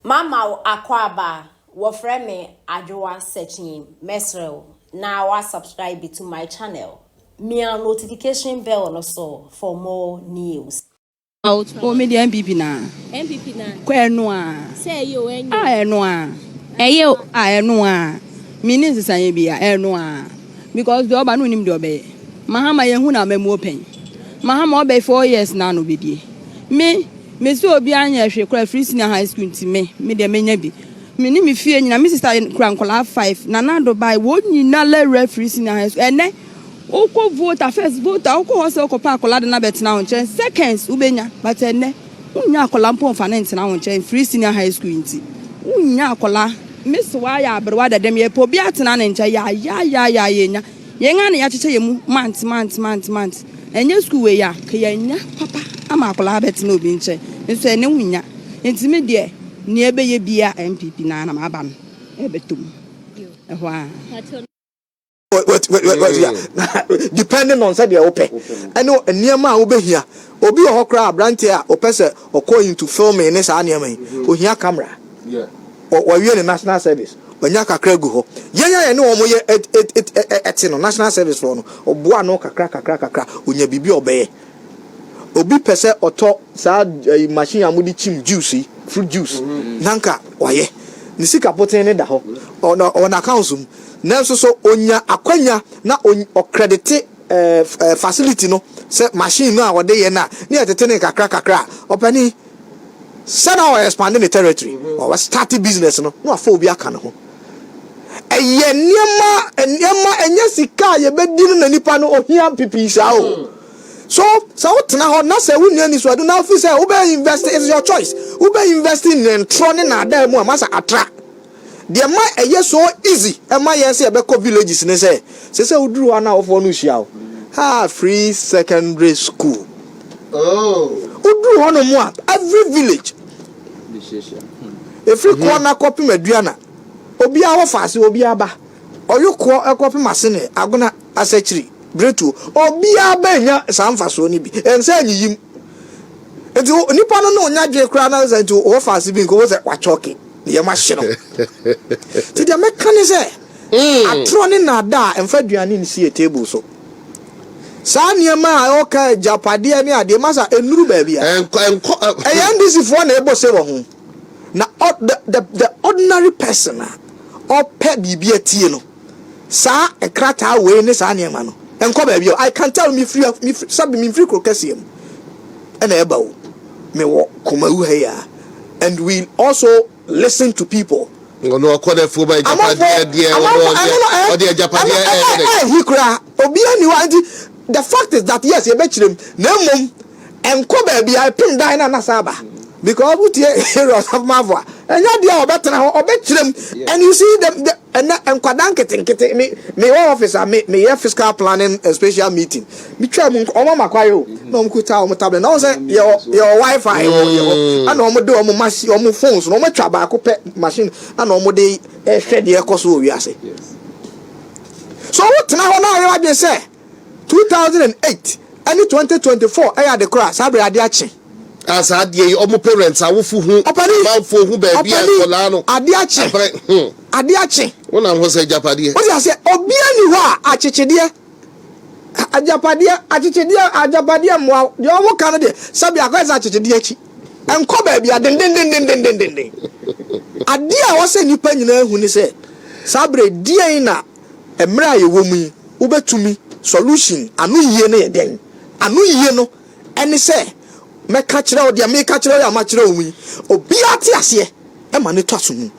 Mama wo akwaaba a wɔfrɛ me Adwoa Sekyin mɛsrɛ wo na wa subscribe to my channel mia notification bell no so for more news. Oh me deɛ NPP naa. NPP naa. Kɔ ɛno aa. Sɛ ɛyɛ o ɛnyɛ. Ah ɛno aa. Ɛyɛ o. Ah ɛno aa. Me ni nsesanyɛ bi a ɛno aa. Because deɛ ɔba no onim deɛ ɔbɛyɛ. Mahama yɛ hu no amamuo pɛn. Mahama ɔbɛ four years naa na ɔbɛdie. Me. Me sɛ obiara nyɛɛ hwee koraa firi senior high school nti me me deɛ mɛnya bi. Me ne me fie nyina me sister kura nkwadaa five nana ado bae wɔn nyina lawura firi senior high school ɛnɛ wokɔ vote a first vote a wokɔ hɔ sɛ wokɔ pɛ akwadaa de no abɛtena wo nkyɛn seconds wobɛnya but ɛnɛ wonnya akwadaa mpo nfa no ntena wo nkyɛn firi senior high school nti wonnya akwadaa. Miss waa yɛ aberewa dɛdɛm yɛpɛ obi atena ne nkyɛn yaayaayaayaa yɛnya. Yɛn ara na yɛakyekyɛ yɛn mu month month month month. Ɛnyɛ sukuu wei a, nka yɛanya papa ama akwadaa abɛtena obi nkyɛn. Nso ɛnnɛ wonnya. Enti me deɛ, nea ɛbɛyɛ biara NPP no ara na maba no ɛrebɛtɔ mu. Ɛhɔ ara. Depending on sɛdeɛ wopɛ ɛne nneɛma a wobɛhia. Obi wɔ hɔ koraa, aberanteɛ a ɔpɛ sɛ ɔkɔ into filming ne saa nneɛma yi, ɔhia camera. wɔawie ne national service, wanya kakra agu hɔ. Yɛn a yɛne wɔn yɛ te no, national service foɔ no, ɔboa ano kakra kakra kakra, ɔnya biribi a ɔbɛyɛ. Obi pɛ sɛ ɔtɔ saa machine a wɔde kyim juice yi, fruit juice, na nka wayɛ. Ne sika poten ne da hɔ, ɔwɔ n'accounts mu. Nanso so ɔnya akwanya na ɔkredite facility no, sɛ machine no a wɔde yɛ no a, na yɛtete no kakra kakra a, ɔpanin? sɛ na ɔ expand ne territory, ɔ start business no, na wafa obi aka ne ho. Ɛyɛ nneɛma, nneɛma, ɛnyɛ sika a yɛbɛdi no na nipa no ohia pipii saa o. So, sɛ wotena hɔ na sɛ wonni anisoɔdeɛ na wofi sɛ wobɛ invest, it's your choice, wobɛ invest in ntorɔ ne naadaa mu a, masa atra. Deɛ ɛma ɛyɛ so easy ma yɛn sɛ yɛbɛkɔ villages ne sɛ, sɛ sɛ woduru hɔ a na awofoɔ no hyia wo. Haa free secondary school. Woduru hɔ nom a, every village, ɛfiri Koana kɔpem Aduana, obiara wɔ faase, obiara ba. Ɔyokoɔ kɔpem Asene, Agona, Asakyiri, Bretuo, obiara bɛnya saa mfasoɔ no bi. Ɛnsɛ anyiyim. Nti nipa no ne wo nya adwene koraa na sɛ nti wɔ faase bi nka wobɛhu sɛ wakyɔke. Nneɛma ahye no. Nti deɛ mɛka ne sɛ, atorɔ ne nnaadaa, mfa aduane nsi yɛn table so. Saa nneɛma a ɛwɔ kaa agyapadeɛ ne adeɛ, masa, ɛnnuru baabi a. Ɛnkɔ, ɛnkɔ. Ɛyɛ NDCfoɔ na ɛbɔ se wɔ ho. Na ɔ, the, the, the ordinary person a ɔpɛ biribi atie no. saa krataa wei ne saa nneɛma no nkɔ baabi a I can tell me firi me firi sɛbi me firi kuro kɛseɛ mu ɛna ɛba o me wɔ Kumawu ha yi a and we also listen to people. Ɔno ɔkɔ na fuo ba agyapadeɛ deɛ ɔno ɔdeɛ ɔdeɛ agyapadeɛ ɛyɛ dɛ. Ɛyɛ hi koraa obiara ni hɔ a nti the fact is that yes yɛbɛkyerɛ mu na mmom ɛnkɔ baabi a ɛpem dan na nasa aba because wotie Aaron Asamoah a ɛnyɛ adeɛ a ɔbɛtena hɔ ɔbɛkyerɛ mu and you see the, the Ɛnɛ nkwadaa nketenkete me me wɔ office a me meyɛ fiscal planning and spatial meeting me twaa mu wɔn ama kwae o na wɔn kuta wɔn tablet na wɔn sɛ yɛ wɔ yɛ wɔ wifi wɔ yɛ hɔ ɛna wɔn de wɔn machine wɔn phones na wɔn atwa baako pɛ machine ɛna wɔn de ɛhwɛ deɛ ɛkɔ so wɔ wiase so wo tena hɔ na ayɛ wadwene sɛ Two thousand and eight ɛne twenty twenty four ɛyɛ ade koro a saa bere ade akye. Ah saa adeɛ yi ɔmo parents awofo hu Ɔpani! amanfoɔ hu baabi a Ɔpani! nkɔlaa no Ade akye! abrɛ hmm Ade akye! wo nam ho sɛ agyapadeɛ. Wote aseɛ? Obiara nni hɔ a akyekyedeɛ, agyapadeɛ, akyekyedeɛ, agyapadeɛ mmoa wo. Deɛ ɔmo ka no deɛ, sɛbea akɔyɛ sɛ akyekyedeɛ akyi. Ɛnkɔ baabi a dendendendendenden. Adeɛ a ɛwɔ sɛ nnipa nyinaa hu ne sɛ, saa bere deɛn na Mmerɛ a yɛwɔ mu yi wobɛtumi solution ano yie no yɛ dɛn? Ano yie no ɛne sɛ mɛka kyerɛ wo deɛ meka kyerɛ wo yi a makyerɛ wo mu yi obiara te aseɛ ɛma no tɔ asomu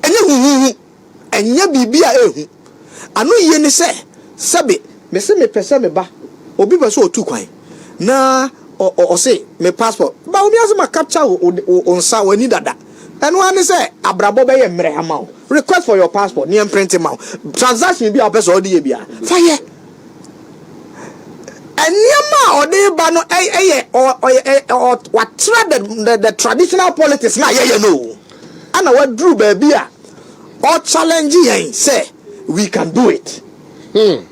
ɛnyɛ huhuhu ɛnyɛ biribi a ɛhu ano yie ne sɛ sɛbe mese mepɛ sɛ meba obi pɛ sɛ ɔtu kwan na ɔ ɔ ɔse me passport ba wo miase ma capture wo wo wo nsa w'ani dada. Ɛno ara ne sɛ abrabɔ bɛyɛ mmerɛ ama wo. Request for your passport na yɛmprente ma wo. Transaction biara a wopɛ sɛ ɔde yɛ biara, fa yɛ. Nneɛma a ɔde reba no yɛ watra the the traditional politics na yɛyɛ no o. Ɛna waduru baabi a ɔchallenge yɛn sɛ we can do it. Hmm.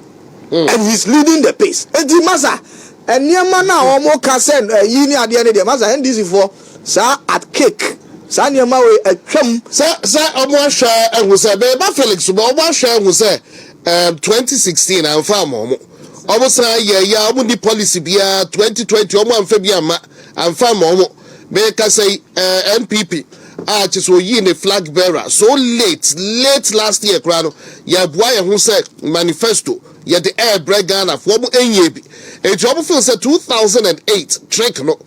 Hmm. And he's leading the pace. Enti masa Nneɛma no a wɔka sɛ ayi ne adeɛ no deɛ masa NDC foɔ saa at cake saa nneɛma wei atwam. Sɛ sɛ wɔn ahwɛ ahu sɛ bɛyɛ ba Felix so bɛ wɔn ahwɛ ahu sɛ ɛɛm twenty sixteen anfa ama wɔn wɔn san yɛ ya wɔn ni policy biara twenty twenty wɔn anfa bi ama anfa ama wɔn bɛyɛ kasa yi ɛɛ NPP a kyɛ sɛ oyi ne flag bearer so late late last year koraa no yɛ aboa yɛ ho sɛ manifesto. Yɛde ɛɛbrɛ Ghana fo ɔmo ɛnyie bi nti ɔmo feel sɛ two thousand and eight trick no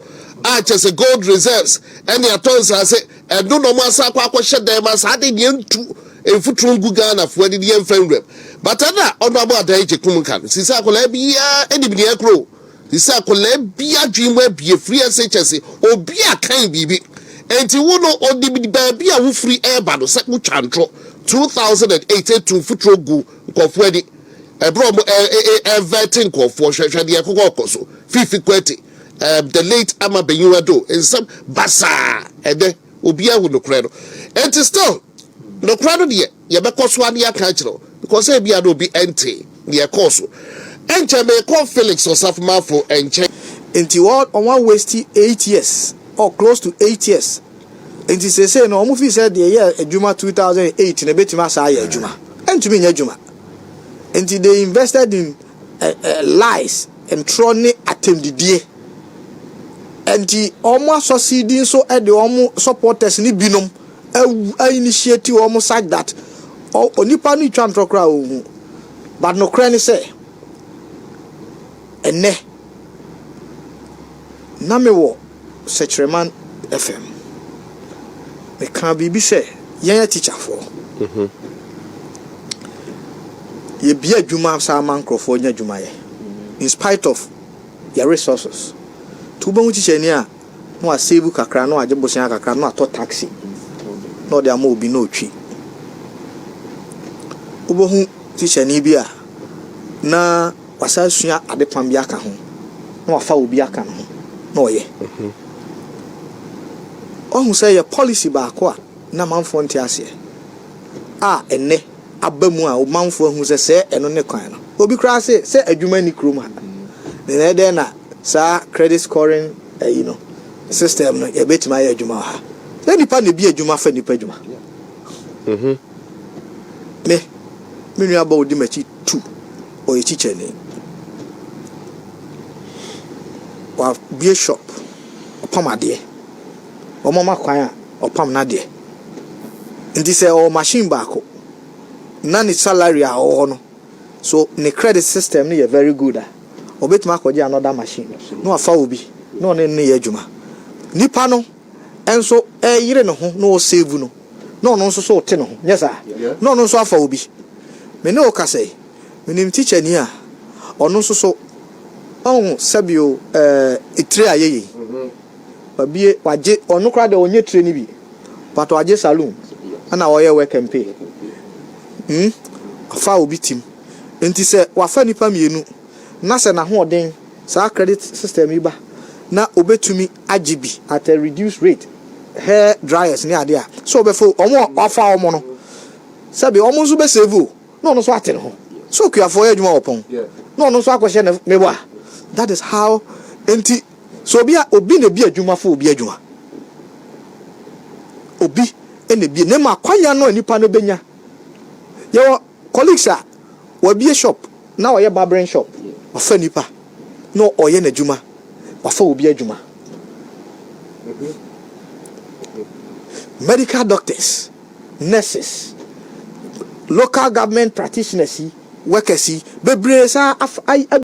a kyɛsɛ gold reserves ɛne atɔ nsaase ɛno na ɔmo asan akɔ akɔ hyɛ dan mu a saa de neɛ ntu nfuturo ngu Ghana fo ani ne yɛn nfa nwura mu but ɛna honourable Adan Agyekum ka no sisɛ akwadaa biaa ɛnim neɛ ɛkorɔ o sisɛ akwadaa bi adwene mu abie firi ɛse kyɛse obi a kan biribi ɛnti wo no onim baabi a wofiri ɛɛba no sɛ wo twa ntorɔ two thousand and eight ɛtu nfuturo gu Nkurɔfoɔ ani, ɛberɛ a wɔn ɛɛvɛɛte nkurɔfoɔ, hwɛ, hwɛ deɛ ɛkokɔ rekɔ so, Fifi Kwati, ɛɛm, the late Ama Benyin Ado, nsɛm basaa, ɛnnɛ, obiara ahu nokorɛ no, enti still, nokorɛ no deɛ, yɛbɛkɔ so ara na yɛaka akyerɛ wo, because ebia na obi ɛntee, deɛ ɛkɔɔ so. Ɛnkyɛ merekɔ Felix Osafomafo nkyɛn. Enti wɔn, wɔn a waste eight years, or close to eight years, Enti seesei no, wɔn fii sɛ deɛ ɛyɛɛ adwuma 2008 no bɛtumi asan ayɛ adwuma. Ɛntumi nyɛ adwuma. Enti they invested in lies, ntorɔ ne atɛmdidie. Enti wɔn asɔ CD nso de wɔn supporters no binom a initiate wɔn such that onipa no retwa ntorɔ koraa a ɔnhu. But nokorɛ ne sɛ, ɛnnɛ, na mewɔ Sɛkyerɛman FM. Mekaa biribi sɛ yɛn atikyafoɔ, yɛbie adwuma saa ma nkurɔfoɔ nya adwuma yɛ in spite of yɛn resources. Nti wobɛhu tikyani a na wasevu kakra, na wagye bosea kakra, na watɔ taxi, na ɔde ama obi na ɔtwi. Wobɛhu tikyani bi a na Wasan asua adepam bi aka ho, na wafa obi aka ne ho na ɔyɛ. Wahu sɛ ɛyɛ policy baako a na manfoɔ nte aseɛ a ɛnnɛ aba mu a manfoɔ ahu sɛ sɛ ɛno ne kwan no. Obi koraa se sɛ adwuma nni kurom ha, then ɛdɛn na saa credit scoring ayi no, system no, yɛbɛtumi ayɛ adwuma wɔ ha. Ɛnyɛ nnipa na ebi adwuma fa nnipa adwuma. Me, me nua ba a ɔdi m'akyi tu. Ɔyɛ kyikyɛni. W'abue shop, ɔpam adeɛ. Wɔn ama kwan a ɔpam n'adeɛ. Nti sɛ ɔwɔ machine baako na ne salary a ɔwɔ hɔ no, so ne credit system no yɛ very good a, ɔbɛtumi akɔgye another machine na wafa obi na ɔne no yɛ adwuma. Nipa no nso yere ne ho na ɔsave no, na ɔno nso so wote ne ho, nyɛ saa? Na ɔno nso afa obi. Me ne wo kasa yi, menim tikyani a ɔno nso so ɔho sɛbio ɛɛ tire a yɛyɛ yi. Wabie, wagye, ɔno koraa deɛ ɔnyɛ tire no bi, but wagye saloon ɛna ɔyɛ work and pay. Hmm, wafa obi tim. Nti sɛ wafa nipa mmienu na sɛ n'ahoɔden. saa credit system yi ba na obetumi agye bi at a reduced rate, hair dryers ne ade a, sɛ ɔbɛfa o, wɔn a wafa wɔn no sɛbe wɔn nso bɛ save o, na ɔno nso ate ne ho sɛ okuafoɔ yɛ adwuma wɔ pɔn na ɔno nso akɔhyɛ ne ne wa, that is how enti sɛ obi a obi na ebi adwuma fa obi adwuma, obi na ebi ne ma akwanya no a nipa no benya yɛwɔ. Colleagues a, wabue shop na ɔyɛ barbering shop, wafa nnipa na ɔyɛ n'adwuma, wafa obi adwuma. Medical doctors, nurses, local government practitioners yi, workers yi, bebree saa afa, ayi, abu.